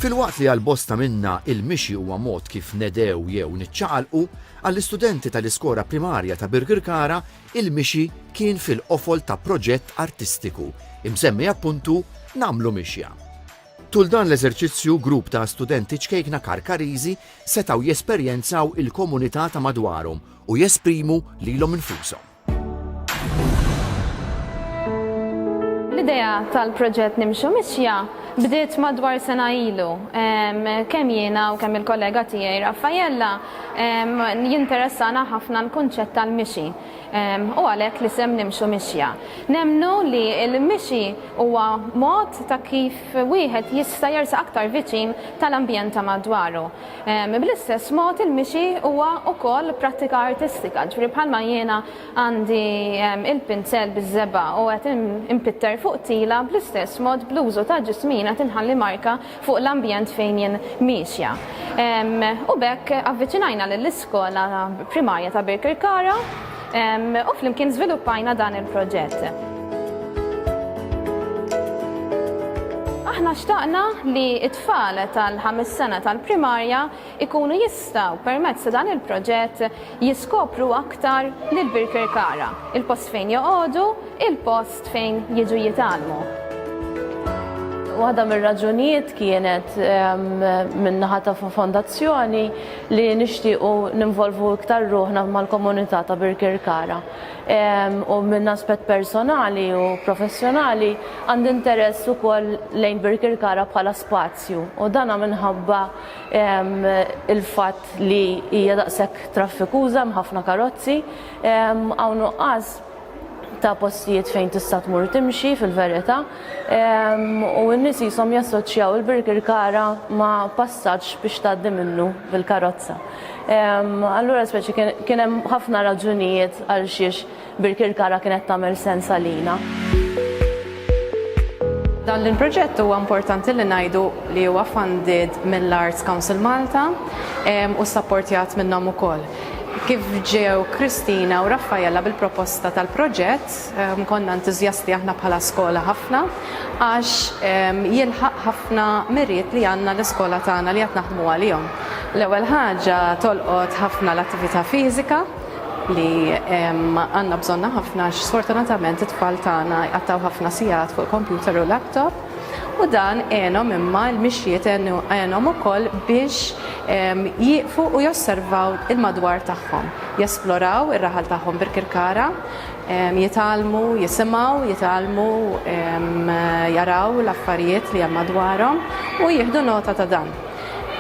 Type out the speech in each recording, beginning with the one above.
Filwaqt li għal-bosta minna il-mixi huwa mod kif nedew jew niċċaqalqu, għall-istudenti tal-iskora primarja ta' Birgirkara il-mixi kien fil-qofol ta' proġett artistiku, imsemmi appuntu namlu mixja. Tul dan l-eżerċizzju grupp ta' studenti ċkejkna karkarizi setaw jesperjenzaw il-komunità ta' madwarhom u jesprimu lilhom infushom. L-idea tal-proġett Nimxu Mixja bdiet madwar sena ilu. Kemm jiena u kemm il-kollega tiegħi Raffaella jinteressana ħafna l-kunċett tal-mixi u għalhekk li sem nimxu mixja. Nemnu li l-mixi huwa mod ta' kif wieħed jista' jersa aktar viċin tal-ambjent ta' madwaru. Bl-istess mod il-mixi huwa wkoll prattika artistika, ġifieri bħalma jiena għandi il-pinzell biż-żebgħa u qed inpitter fuq tila, bl-istess mod bl-użu ta' ġismi jien qed inħalli marka fuq l-ambjent fejn jien miexja. U b'hekk avviċinajna lill-iskola primarja ta' Birkirkara u flimkien żviluppajna dan il-proġett. Aħna xtaqna li tfal tal-ħames sena tal-primarja jkunu jistgħu permezz ta' dan il-proġett jiskopru aktar lil Birkirkara, il-post fejn joqogħdu, il-post fejn jiġu jitgħallmu. Waħda mir-raġunijiet kienet min-naħa ta' Fondazzjoni li nixtiequ ninvolvu iktar ruħna mal-komunità ta' Birkirkara. U minn aspett personali u professjonali għandi interess ukoll lejn Birkirkara bħala spazju u dan minħabba l-fatt li hija daqshekk traffikuża hemm ħafna karozzi, hawn nuqqas ta' postijiet fejn tista' tmur timxi fil-verità. u n-nies qishom jassoċjaw il-Birkirkara ma' passaġġ biex tgħaddi minnu bil-karozza. Allura speċi kien hemm ħafna raġunijiet għal xiex Birkirkara kienet tagħmel sens għalina. Dan il-proġett huwa importanti li ngħidu li huwa funded mill-Arts Council Malta u sapportjat minnhom ukoll. Kif ġew Kristina u Raffaella bil-proposta tal-proġett, Konna entużjasti aħna bħala skola ħafna għax jilħaq ħafna miriet li għandna l-iskola tagħna li qed naħdmu għalihom. L-ewwel ħaġa tolqot ħafna l-attività fiżika li għandna bżonnha ħafna għax sfortunatament it-tfal tagħna jqattgħu ħafna sigħat fuq il-kompjuter u laptop u dan għenhom imma l-mixjiet għenhom ukoll biex jieqfu u josservaw il-madwar tagħhom, jesploraw ir-raħal tagħhom Birkirkara, jitgħallmu, jisimgħu, jitgħallmu, jaraw l-affarijiet li hemm madwarhom u jieħdu nota ta' dan.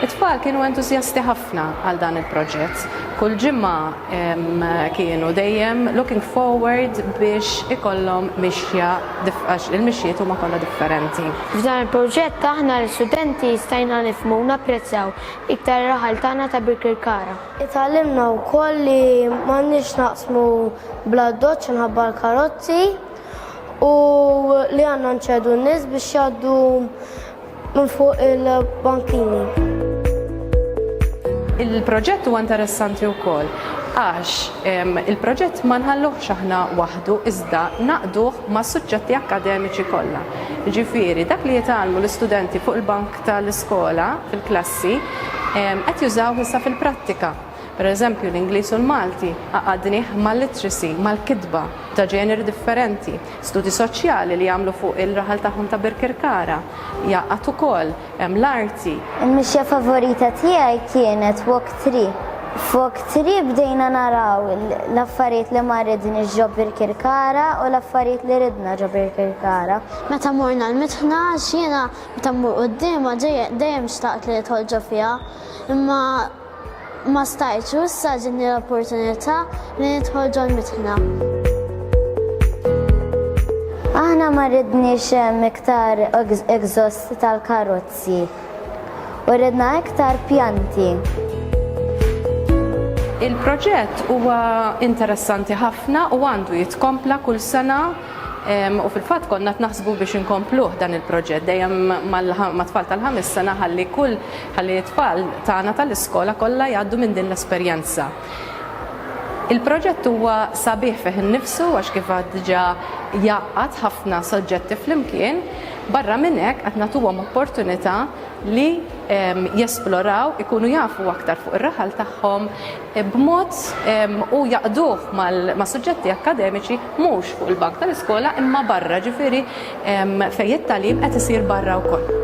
It-tfal kienu entużjasti ħafna għal dan il-proġett. Kull ġimgħa kienu dejjem looking forward biex ikollhom mixja għax il-mixjiet huma kollha differenti. F'dan il-proġett aħna l-istudenti stajna nifhmu u napprezzaw iktar ir-raħal tagħna ta' Birkirkara. Itgħallimna wkoll li m'għandniex naqsmu bl-addoċċ inħabba l-karozzi u li għandna nċedu n-nies biex jgħaddu minn fuq il-bankini. Il-proġett huwa interessanti wkoll għax il-proġett ma nħalluhx aħna waħdu iżda naqduh mas-suġġetti akkademiċi kollha. Ġifieri dak li jitgħallmu l-istudenti fuq il-bank ta' l-iskola fil-klassi qed jużawh issa fil-prattika. Per eżempju, l-Ingliż u l-Malti għaqadnih mal-literacy, mal-kitba ta' ġeneri differenti. Studji soċjali li għamlu fuq il-raħal tagħhom ta' Birkirkara jgħaqqad ukoll l-arti. Il-mixja favorita tiegħi kienet Walk Tree. F'Walk Tree bdejna naraw l-affarijiet li ma ridniex ġo Birkirkara u l-affarijiet li ridna ġo Birkirkara. Meta morna l-Mitħna għax jiena Meta mmur quddiemha dejjem xtaqt li nidħol ġo fiha, imma ma stajtx u issa ġietni l-opportunità li nidħol ġol-mitħna. Aħna ma ridniex iktar exhaust tal-karozzi u ridna iktar pjanti. Il-proġett huwa interessanti ħafna u għandu jitkompla kull sena. U fil-fatt konna qed naħsbu biex inkompluh dan il-proġett dejjem mat-tfal tal-ħames sena ħalli kull ħalli t-tfal tagħna tal-iskola kollha jgħaddu minn din l-esperjenza. Il-proġett huwa sabiħ fih innifsu għax kif għad diġà jgħaqqad ħafna soġġetti flimkien, barra minn hekk qed nagħtuhom opportunità li jesploraw, ikunu jafu aktar fuq ir-raħal tagħhom, b'mod u jgħaqqduh ma' suġġetti akkademiċi mhux fuq il-bank tal-iskola imma barra, ġifieri fejn it-tagħlim qed isir barra wkoll.